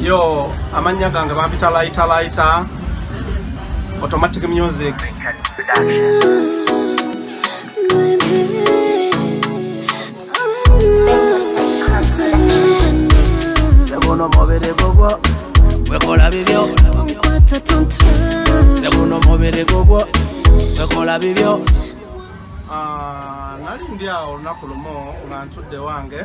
yo amannya gange bampita laita laita automatic music Segundo mobile gogo, wekola bibyo. Onkwata tonta. Segundo mobile gogo, wekola bibyo. Ah, nali ndi awo olunaku lumu nga ntudde wange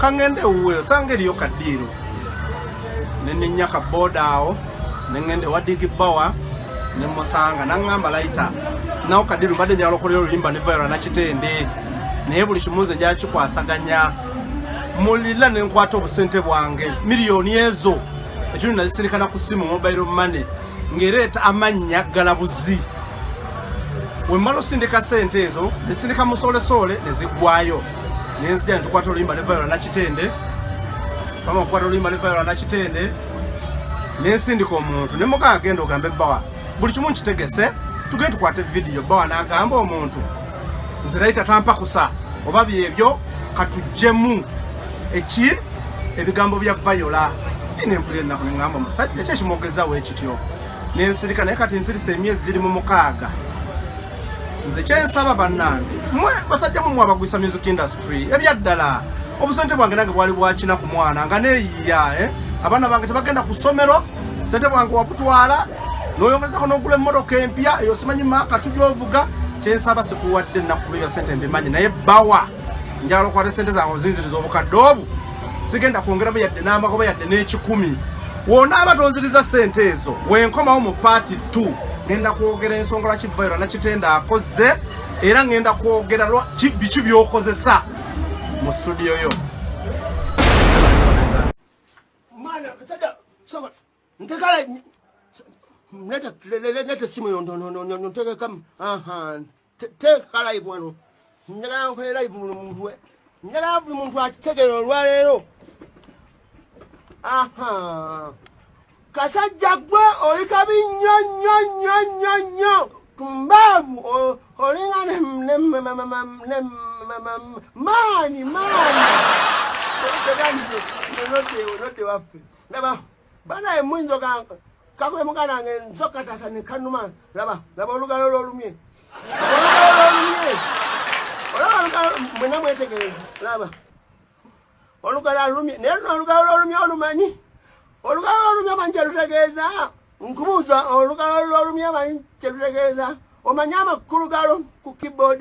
kangende ewuwe osanga eriyo kadiiro nenenya kabooda awo nengende wadigi bawa nemusanga nangamba laita nawo kadiiro mbadde njagala okolera oluyimba ne vayora nakitende naye buli kimu nze njakikwasaganya mulila nenkwata obusente bwange miliyoni ezo ekyo nazisirikana ku simu mobile money ngereeta amannya galabuzi wemala osindika sente ezo zisindika musolesoole nezigwayo nenzija ntukwata oluyimba ne viola nakitende kama okukwata oluyimba ne viola nakitende nensindika omuntu ne muka agenda ogambe bawa buli kimu nkitegese tugende tukwate vidiyo bawa nagamba omuntu nze naye tatampakusa oba byebyo katujjemu eki ebigambo bya viola nempulira ennaku neŋamba omusajja kyekimwogezawo ekityo nensirika naye kati nsirise emyezi giri mu mukaaga nze kyensaba bannange mwe basajja mumwe abagwisa music industry ebyaddala obusente bwange nange bwali bwakina ku mwana nga neyiya eh? abaana bange tebagenda ku ssomero sente bwange wabutwala noyongerezako nogula emmotoka empya eyo simanyi maaka tujoovuga kyensaba sikuwadde nakuba ebya sente mbimanyi naye bawa njala okwata sente zange ozinziriza obukadde obu sigenda kwongeramu yadde n'amagoba yadde n'ekikumi wonaaba tonziriza sente ezo wenkomawo mu paati 2 ngenda kwogera ensonga lwaki vairo nakitenda akoze era ngenda kwogera biki byokozesa mu studio yo ntegala nete simu yo ntegekamu teeka live wano njagala nkole live buli muntu we njagala buli muntu akitegere olwaleero aha kasajja gwe oli kabi nnyo nnyo nnyo nnyo nnyo tumbaavu olinga maanyi maanyi nodde waffe ndaba banaye muyinza ogamba kakuye muganda wange nsokka tasa ne kanuma laba laba olugalo lwolumye olugalo lwolumye olaba olugalo mwena mwetegereza laba olugalo alumye naye luno olugalo lwolumye olumanyi olugalo lwolumye amanyi kyelutegeeza nkubuuza olugalo lwolumye amanyi kyelutegeeza omanyi amakulu galo ku keyboard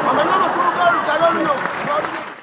omanyi amakulu galugalo luno